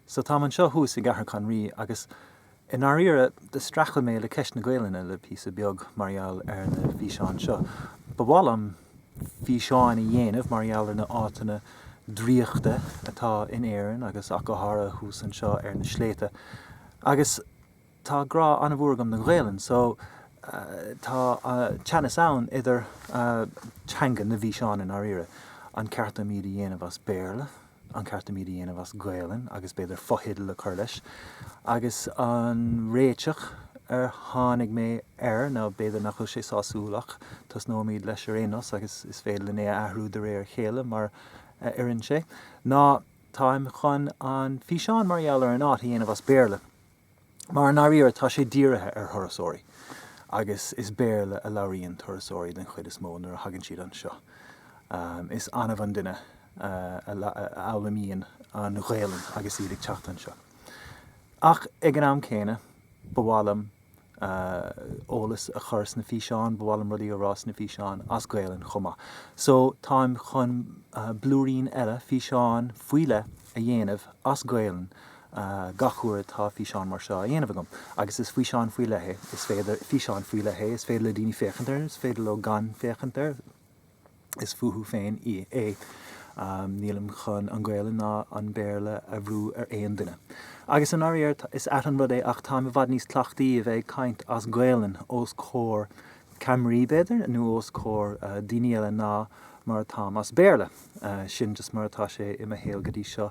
So táim anseo thuas i gCathair Chonraoi agus i ndáiríre do streachail mé le ceist na Gaelainne le píosa beag mar gheall ar na físeáin seo. Ba mhaith liom físeáin a dhéanamh mar gheall ar na áiteanna draíochta atá in Éirinn agus ach go háirithe thuas anseo ar na sléibhte agus Tá grá an-mhór agam don Ghaelainn, so tá teannas ann idir teanga na bhfíseán i ndáiríre. An ceart dom iad a dhéanamh as Béarla, an ceart dom iad a dhéanamh as Gaelainn agus b'fhéidir fotheideal a chur leis? Agus an réiteach ar tháinig mé air, now, b'fhéidir nach bhfuil sé sásúil ach tosnóimid leis ar aon nós agus is féidir linn é a athrú de réir a chéile mar a oireann sé, ná táim chun an físeán mar gheall ar an áit a dhéanamh as Béarla. mar i ndáiríre tá sé dírithe ar thurasóirí agus is Béarla a labhraíonn turasóirí den chuid is mó nuair a thagann siad anseo. Is annamh an duine a fhoghlaimíonn an Ghaelainn agus iad ag teacht anseo. Ach ag an am céanna ba mhaith liom eolas a chur sna físeáin, ba mhaith liom rudaí a rá sna físeáin as Gaelainn chomh maith. So táim chun blúirín eile, físeán faoi leith, a dhéanamh as Gaelainn gach uair atá físeán mar seo á dhéanamh agam. Agus is físeán faoi leith é. Is féidir, físeán faoi leith é, is féidir le daoine féachaint air, is féidir leo gan féachaint air, is fúthu féin é. Nílim chun an Ghaelainn ná an Béarla a bhrú ar aon duine. Agus i ndáiríre, is ait an rud é ach táim i bhfad níos cleachtaí a bheith ag caint as Gaelainn os comhair ceamaraí, b'fhéidir, nó os comhair daoine eile ná mar atáim as Béarla. Sin just mar atá sé i mo shaol go dtí seo.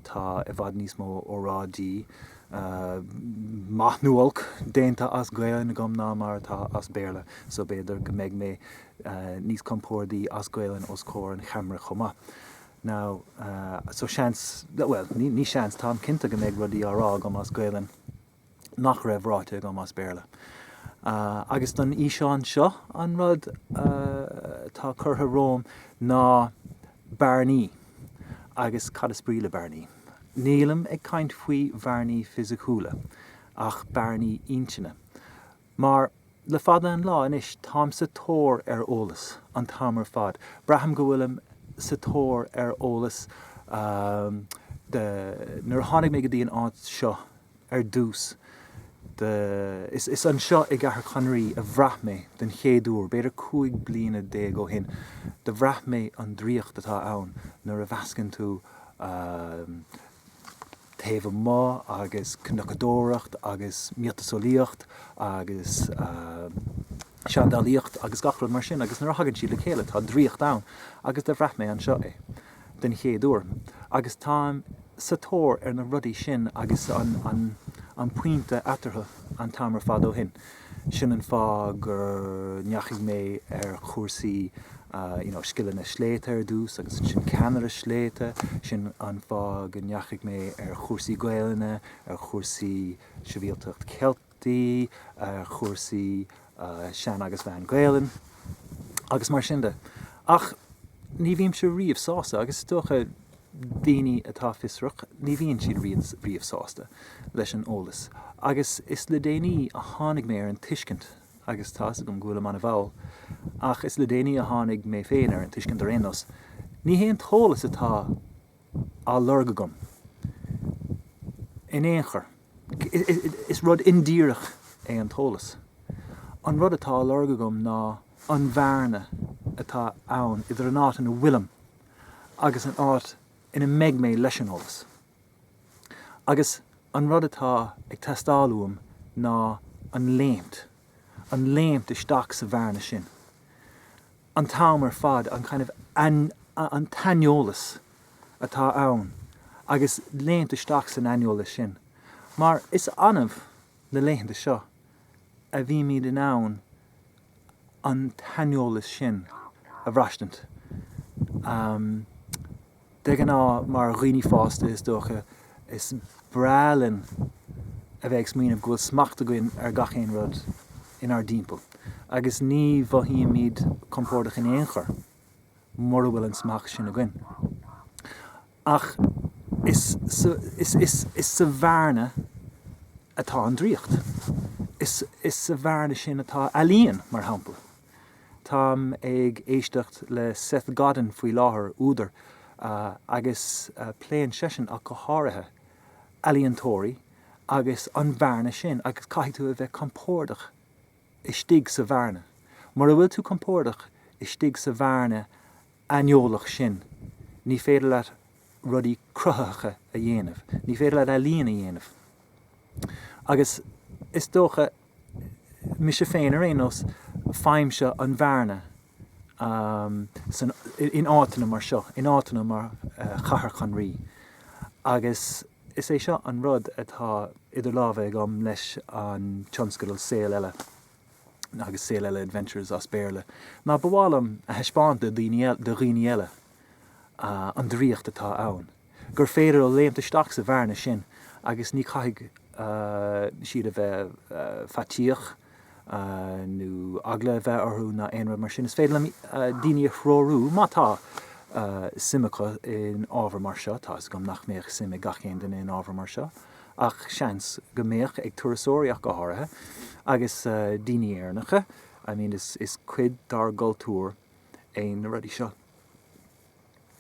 Tá i bhfad níos mó óráidí, maith nó olc, déanta as Gaelainn agam ná mar atá as Béarla, so b'fhéidir go mbeidh mé níos compordaí as Gaelainn os comhair an cheamara chomh maith. Now, so seans, bhuel, ní seans, táim cinnte go mbeidh rudaí á rá agam as Gaelainn. nach raibh ráite agam as Béarla. Agus don fhíseán seo, an rud atá curtha romham ná bearnaí, agus cad is brí le bearnaí? Nílim ag caint faoi bhearnaí fisiciúla, ach bearnaí intinne. Mar, le fada an lá anois, táim sa tóir ar eolas, an t-am ar fad. Braithim go bhfuilim sa tóir ar eolas. Do, nuair a tháinig mé go dtí an áit seo ar dtús, do, is anseo i gCathair Chonraoi a bhraith mé den chéad uair, b'fhéidir cúig bliana déag ó shin, do bhraith mé an draíocht atá ann nuair a mheascann tú taobh amuigh agus cnocadóireacht agus miotaseolaíocht agus seandálaíocht agus gach rud mar sin agus nuair a thagann siad le chéile tá draíocht ann agus do bhraith mé anseo é den chéad uair agus táim sa tóir ar na rudaí sin agus an pointe eatarthu an t-am ar fad ó shin. Sin an fáth gur ndeachaigh mé ar chúrsaí you know scileanna sléibhte ar dtús agus ansin ceannaire sléibhte, sin an fáth go ndeachaigh mé ar chúrsaí Gaelainne, ar chúrsaí Sibhialtacht Cheilteach, ar chúrsaí Sean agus Meán-Ghaelainn agus mar sin de. Ach ní bhímse riamh sásta agus is dócha, Daoine atá fiosrach, ní bhíonn siad riamh sásta leis an eolas. Agus is le déanaí a tháinig mé ar an tuiscint, agus tá 'fhios agam go bhfuilim an-mhall, ach is le déanaí a tháinig mé féin ar an tuiscint ar aon nós, ní hé an t-eolas atá á lorg agam in aon chor, is rud indíreach é an t-eolas. An rud atá á lorg agam ná an bhearna atá ann idir an áit ina bhfuilim, agus an áit ina mbeidh mé leis an eolas. Agus an rud atá ag teastáil uaim ná an léimt, an léimt isteach sa bhearna sin, an t-am ar fad, an kind of an t-aineolas atá ann agus léimt isteach san aineolas sin. Mar is annamh na laethanta seo a bhímid in ann an t-aineolas sin a bhraistint. De ghnáth, mar dhaoine fásta, is dócha, is breá linn a bheith ag smaoineamh go bhfuil smacht againn ar gach aon rud inár dtimpeall, agus ní mhothaímid compordach in aon chor mura bhfuil an smacht sin againn. Ach is sa bhearna atá an draíocht. Is sa bhearna sin atá ealaíon, mar shampla. Táim ag éisteacht le Seth Godin faoi láthair, údar, agus pléann seisean ach go háirithe ealaíontóirí agus an bhearna sin agus caithfidh tú a bheith compordach. istigh sa bhearna. Mura bhfuil tú compordach istigh sa bhearna aineolach sin, ní féidir leat rudaí cruthaitheacha a dhéanamh, ní féidir leat ealaíon a dhéanamh. Agus is dócha, mise féin ar aon nós, faighimse an bhearna in áiteanna mar seo, in áiteanna mar Chathair Chonraoi agus. Is é seo an rud atá idir lámha agam leis an tionscadal Saol Eile, agus Saol Eile Adventures as Béarla, ná ba mhaith liom a thaispeáint do dhaoine eile an draíocht atá ann, gur féidir leo léimt isteach sa bhearna sin agus ní chaithfidh siad a bheith faitíoch. nó eagla a bheith orthu ná aon rud mar sin. Is féidir daoine a threorú, má tá suim acu in ábhar mar seo, tá 'fhios agam nach mbeadh suim ag gach aon duine in ábhar mar seo, ach seans go mbeadh ag turasóirí ach go háirithe, agus daoine Éireannacha, I mean is cuid dár gcultúr é na rudaí seo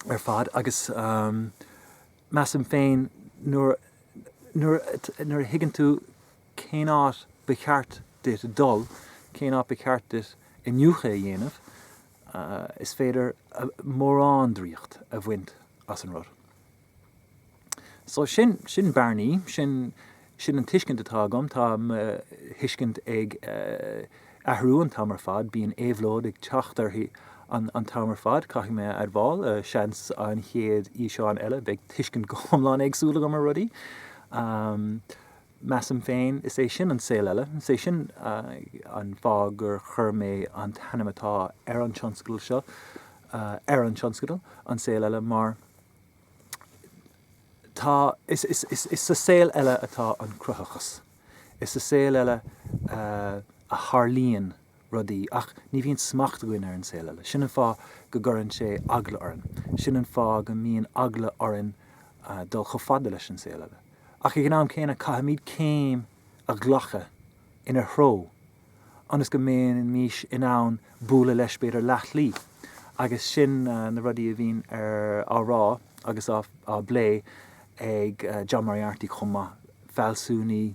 ar fad agus measaim féin nuair a thuigeann tú cén áit ba cheart duit dul, cén áit ba cheart duit iniúchadh a dhéanamh, is féidir mórán draíocht a bhaint as an rud. So sin, sin bearnaí, sin, sin an tuiscint atá agam, tá mo thuiscint ag athrú an t-am ar fad, bíonn éabhlóid ag teacht uirthi an, an t-am ar fad, caithfidh mé a admháil, seans an chéad fhíseán eile beidh tuiscint go hiomlán éagsúil agam ar rudaí. Measaim féin, is é sin an saol eile. Is é sin an fáth gur chuir mé an t-ainm atá ar an tionscadal seo ar an tionscadal, An Saol Eile, mar tá, is sa saol eile atá an cruthachas, is sa saol eile a tharlaíonn rudaí, ach ní bhíonn smacht againn ar an saol eile. Sin an fáth go gcuireann sé eagla orainn. Sin an fáth go mbíonn eagla orainn dul chomh fada leis an saol eile. Ach ag an am céanna, caithfimid céim a ghlacadh ina threo ionas go mbeimís in ann bualadh leis, b'fhéidir, leathshlí. Agus sin na rudaí a bhíonn á rá agus á bplé ag John Moriarty chomh maith, fealsúnaí,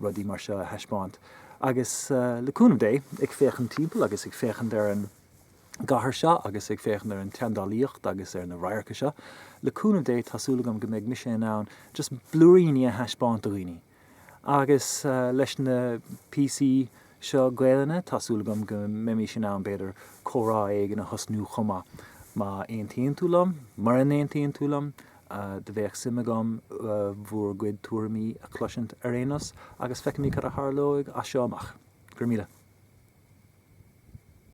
rudaí mar seo a thaispeáint. Agus le cúnamh Dé, ag féachaint timpeall agus ag féachaint ar an gcathair seo agus ag féachaint ar an tseandálaíocht agus ar na radharca seo, le cúnamh Dé tá súil agam go mbeidh mise in ann just blúiríní a thaispeáint do dhaoine. Agus leis na píosaí seo Gaelainne tá súil agam go mbeimís in ann, b'fhéidir, comhrá éigin a thosnú chomh maith, má aontaíonn tú liom, mura n-aontaíonn tú liom, Do bheadh suim agam bhur gcuid tuairimí a chloisint ar aon nós agus feicfimid cad a tharlóidh as seo amach. Go raibh míle.